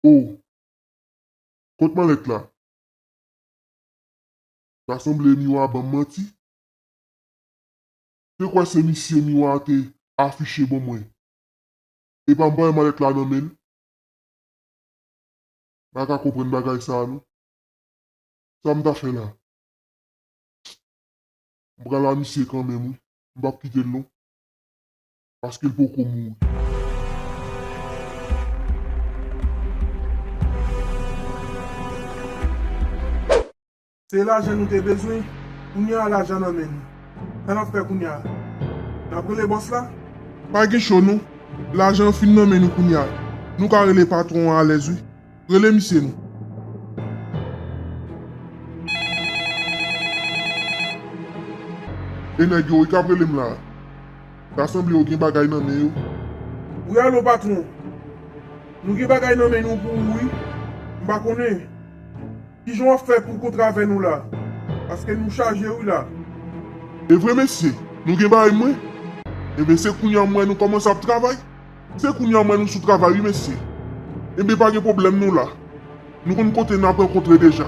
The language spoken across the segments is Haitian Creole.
O! Kot malèt la? Ta sanble Miwa banm manti. Te kwè se misye Miwa te afiche ban mwen. Epa m pa wè malèt la nan men l. Pa ka konprann bagay sa a non. Sa m ta fè la? Pst! M pral a misye kanmenm wi. M pap kite l non. Paske l poko mouri. Se lajan nou te bezwen, kounye a lajan nan men nou. Sa n ap fè kounye a? N ap rele bòs la? Pa gen cho non, lajan an fin nan men nou kounye a. Nou ka rele patwon an alèz wi. Rele misye nou. E nèg yo wi k ap rele m la a. Ta sanble yo gen bagay nan men yo. Wi alo patwon. Nou gen bagay nan men nou pou ou wi. M pa konnen. Kijan wap fè pou kontra avè nou la paske nou chaje wi la. Evre mesye nou gen bagay mwen. Enben se kounya m wè nou kòmanse ap travay se kounya m wè nou sou travay wi mesye enben pa gen pwoblèm nou la nou konn kote nap rankontre deja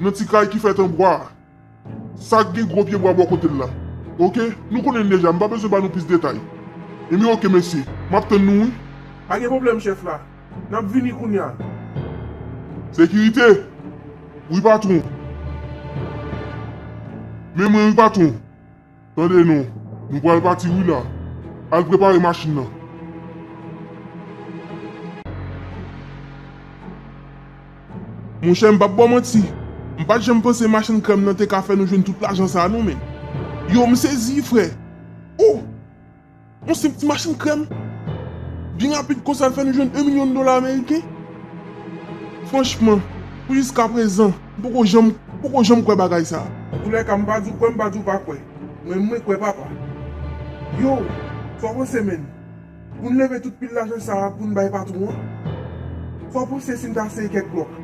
nan ti kay ki fèt anbwa a. Sak gen gwo pye bwa bò kotel la ok nou konnen l deja m pa bezwen ba nou plis detay enbyen ok mesi map tann nou wi. Pa gen pwoblèm chèf la nap vini kounya. Sekirite, Wi patwon. Men mwen wi patwon. Tande non, nou pral pati wi la. Al prepare machin nan. Monchè m pap ba w manti, m pat janm panse machann krèm lan te ka fè nou jwenn tout lajan sa non men. Yow m sezi frè! Ooh! Yon senp ti machin krèm. Byen rapid konsa l fè nou jwenn 1 milyon dola ameriken. Franchman, pou jiskaprezan, m poko janm, poko janm kwè bagay sa a. Zoulèka, m pa di w kwè, m pa di w pa kwè. Men mwen kwè papa. Yow, fò w panse menn. Pou n leve tout pil lajan sa a pou n bay patwon an. Fò w panse si n ta sere kèk blòk.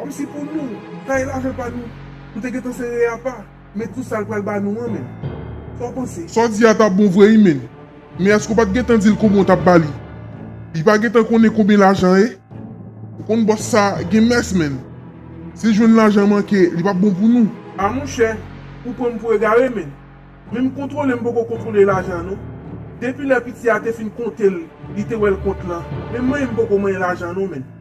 Kòmsi pou nou, taye lajan pa nou, nou te gentan sere apa. Men tou sal pral ba nou an menm. Sa w panse? Sa w di a ta bon vre wi menn. Men eske w pat gentan di l konbyen w tap ba li? Li pa gentan konnen konbyen lajan ye? Ou konn bòs sa gen mès menn. Si l jwenn lajan manke li pap bon pou nou. A monchè, ou pran m pou egare menn. Menm kontwole m poko kontwole lajan non. Depi lè piti a te fin konte l li te wè l kont lan. Menm manyen m poko manyen lajan non menn.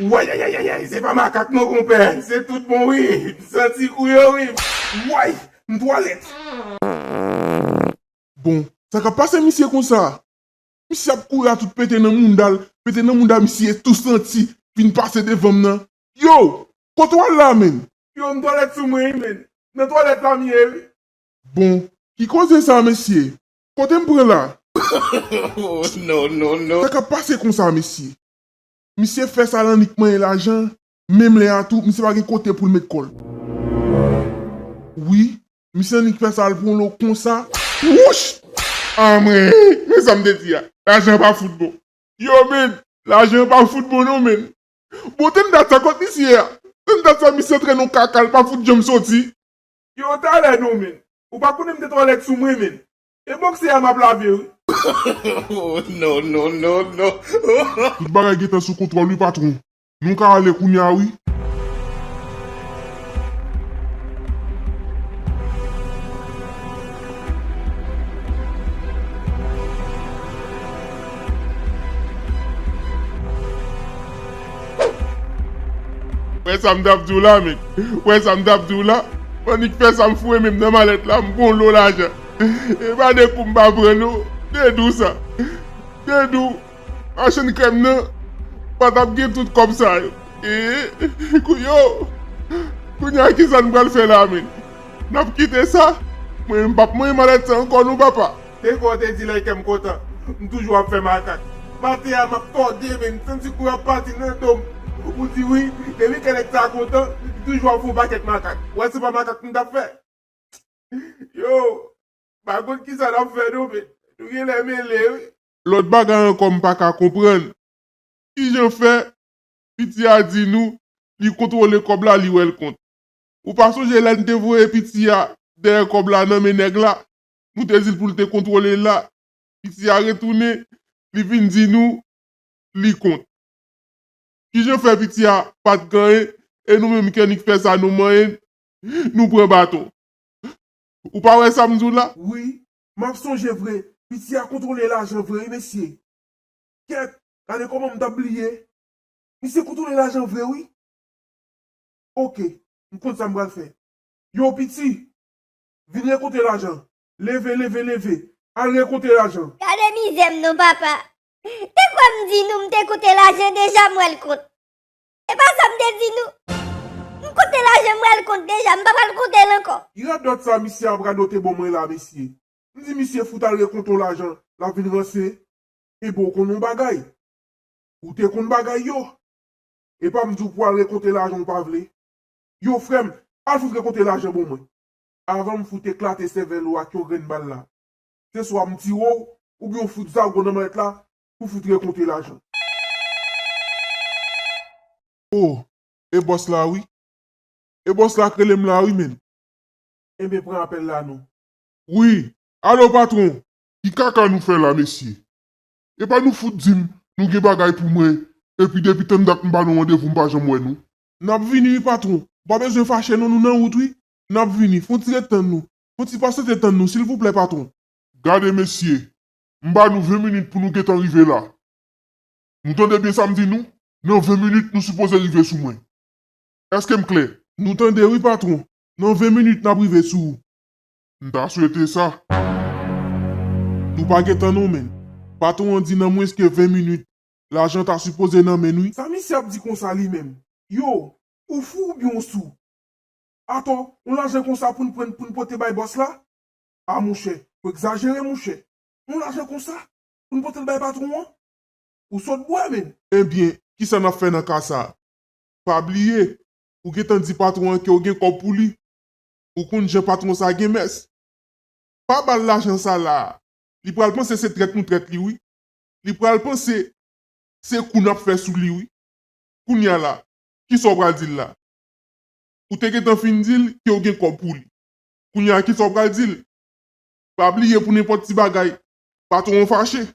Wayayayayay se pa makak non konpè se tout bon wi m santi kou yo wi way m twalèt. Bon sa kap pase misye konsa. Misye ap kouri a tout pete nan moundal pete nan mounda misye tou santi vin pase devanm nan yow kote wal la menn. Yow m twalèt sou mwen wi menn nan twalèt pam ye wi. Bon ki koze sa mesye Kote m pran la? Sa kap pase konsa mesye? Misye fè sa l annik manyen lajan, menm lè a tou misye pa gen kote pou l met kò l. Wi, misye annik fè sa l pran lo konsa. Wouch! Anmweyy! Men sa m te di a, lajan pa fout bon. Yow menn, lajan pa fout bon non menn. Bon tann dat sa kot misye a? Tann dat sa misye antre nan yon kaka l pa fout janm soti. Yow talè non menn. Ou pa konnen m te twalèt sou mwen menn. E bokse a map lave wi. Oh no no no no oh. Tout bagay gentan sou kontwòl wi patron. Nou ka ale kounya wi. Wè sa m t ap di w la Annik? Wè sa m t ap di w la? Annik fè sa m foure men m nan malèt la, m pran lo lajan. E pa de kou m pa pran non. Dedou sa. Dedou, machann krèm nan, pa t ap gen tout kòb sa yo. Ee, kou yo! Kounye a ki sa n pral fè la menm? N ap kite sa? Mwen menm m p ap manyen malèt sa ankò non papa. Depwi w te di like m kontan. M toujou ap fè makak. Pate a map tòde men m santi kou yap pati nan do m. Ou di wi, depi kè nèg sa kontan, li toujou ap fè yon pakèt makak. Wè se pa makak m tap fè. Yo, m pa konn kisa nap fè non men nou genlè mele wi. Lòt bagay ankò m paka konprann. Kijan fè piti a di nou li kontwole kòb la li wèl kont. Ou pa sonje lè n te voye piti a dèyè kòb la nan men nèg la nou te di l pou l te kontwole la, piti a retounen, li vin di nou li kont. Ki jan fè piti a pa t ganyen e nou menm kè nik fè sa nou manyen nou pran baton? Ou pa wè sa m di w la? Wi, m ap sonje vre, piti a kontwole lajan vre wi mesye. Kèt, gade kòman m t ap bliye. Misye kontwole lajan vre wi. Oke, m konn sa m pral fè. Yo piti, Vin rekonte lajan. Leve, leve, leve. Al rekonte lajan. Gade mizè m non papa. Te kwè m di nou m te konte lajan deja m wè l kont. E pa sa m te di nou. M konte lajan m wè l kont deja m pa pral konte l ankò. Ki radòt sa misye ap radote bon mwen la mesye. M di misye fout al rekonte w lajan la vin ranse. Enben w konn yon bagay. Ou te konn bagay yo. Epa m di w pou al rekonte lajan w pa vle. Yo frè m al fout rekonte lajan bon mwen. avan m fout eklate sèvèl ou ak yon grenn bal la. Se swa m tire w, oubyen w fout zago nan mallèt la pou fout rekonte lajan. O! E bòs la wi. E bòs la k rele m la wi menn. Enben pran apèl la non. Wi, alo patwon! Ki kaka nou fè la mesye? Epa nou fout di m nou gen bagay pou mwen epi depi tann dat m ba nou randevou m pa janm wè nou? Nap vini wi patron. Ou pa bezwen fache non nou nan wout wi. Nap vini. Fon ti ret tann nou. Fon ti pasante tann nou silvouplè patron. Gade mesye. M ba nou 20 minit pou nou gentan rive la. Nou tande byen sa m di nou? Nan 20 minit nou sipoze rive sou mwen. Eske m klè? Nou tande wi patron. Nan 20 minit nap rive sou ou. M ta swete sa. Nou pa gen tan non menn. Patron an di nan mwens ke 20 minit. Lajan ta sipoze nan menn wi. Sa misye ap di konsa li menm. Yo, ou fou oubyen ou sou? Atò, on lajan konsa pou n pran pou n pote bay bòs la? Ah monchè, ou egzajere monchè. On lajan konsa, pou n pote l bay patwon an? Ou sòt bwè menn. Ebyen, kisa n ap fè nan ka sa a? Pa bliye, ou gentan di patwon an ke w gen kòb pou li. Ou konn jan patwon sa a gen mès. Pa ba l lajan sa la a. Li pral panse se trèt nou trèt li wi. li pral panse se kou nap fè sou li wi kounya la kisa ou pral dil la ou te gentan fin dil ke ou gen kòb pou li kounya kisa ou pral dil pa bliye pou nenpòt ti bagay patron an fache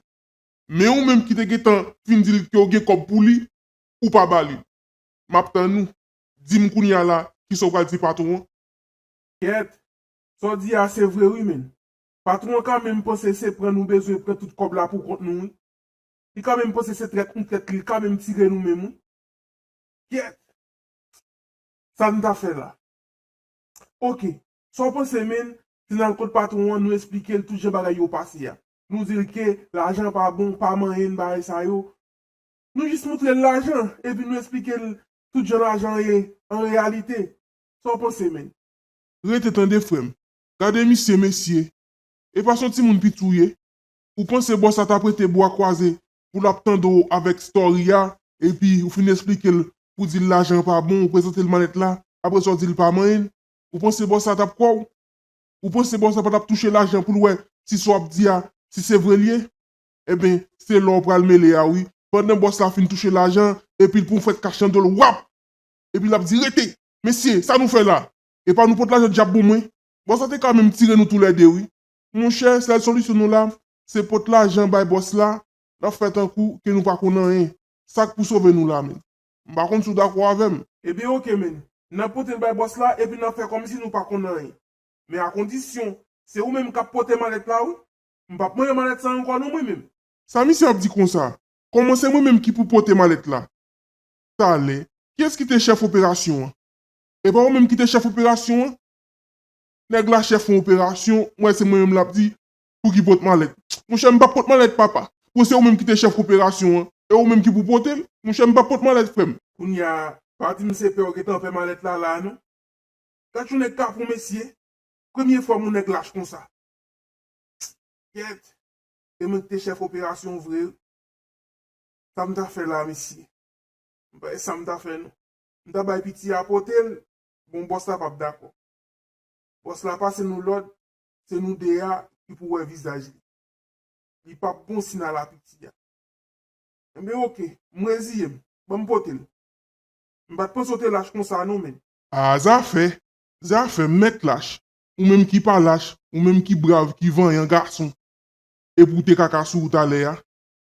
men ou menm ki te gentan fin dil ke ou gen kòb pou li ou pa balil map tann ou dim kounya la kisa ou pral di patron an. Kèt, sa w di a se vre wi menn. Patron an ka menm panse se pran nou bezwen pran tout kòb la pou kont nou wi. Li ka menm panse se trèt nou trèt li ka menm tire nou menm wi. Kyèt! Sa nou ta fè la? Ok, sa w panse menn, si n al kot patron an nou esplike l tout jan bagay yo pase a. Nou di l ke lajan pa bon, pa manyen n bagay sa yo. Nou jis moutre l lajan epi nou esplike l tout jan lajan ye an reyalite. Sa w panse menn? Rete tande frè m. Gade misye mesye. E pa son timoun pitou ye. Ou panse bò sa tap rete bwa kwaze pou lap tande w avèk story a epi ou fin esplike l pou di l lajan an pa bon ou prezante l malèt la apre sa w di l pa manyen ou panse bò sa tap kwè w? Ou panse bò sa patap touche lajan pou l wè si sa w ap di a si se vre l ye? Enben se la w pral mele a wi pandan bòs la fin touche lajan an epi l pran w fèt kach nan do l wap! Epi lap di rete! Mesye sa nou fè la? Epa nou pot lajan dyab pou mwen. Bòs la te ka menm tire nou tou lè 2 wi. Monchè sèl solisyon nou la se pot lajan bay bòs la nap fè tankou ke nou pa konn anyen sak pou sove nou la menn m pa konn si w dakò avèm. Ebyen ok menn nap potel bay bòs la epi nap fè kòmsi nou pa konn anyen men a kondisyon se ou menm kap pote malèt la wi m pap mande malèt sa ankò non mwen menm. Sa misye ap di konsa? Kòman se mwen menm ki pou pote malèt la? Talè, kiyès ki te chèf operasyon an? Epa ou menm kite chèf operasyon an? Nèg la chèf yon operasyon, m wè se mwen menm lap di pouki pot malèt. Monchè m pap pot malèt papa, bon se ou menm kite chèf operasyon an, e ou menm ki pou pote l, monchè m pap pot malèt frèm. Kounya pa dim se pè ou gentan pè malèt la la non. Gad yon nèg kapon mesye, premye fwam yon nèg lach konsa. Kèt, se mwen kite chèf operasyon vre wi. Sam ta fè la mesye? M pa wè sam ta fè non. M ta bay piti a pote l, bon bòs la pap dakò. Bòs la pase nou lòd, se nou 2 a ki pou wè vizaj li. Li pap bon si n al a piti a. Enben ok, m reziye m, ban m pote l. M pa t panse w te lach konsa non men. A zafè, zafè, m mèt lach. Ou menm ki pa lach, ou menm ki brav, ki vanyan gason. Epi w te kaka sou ou talè a.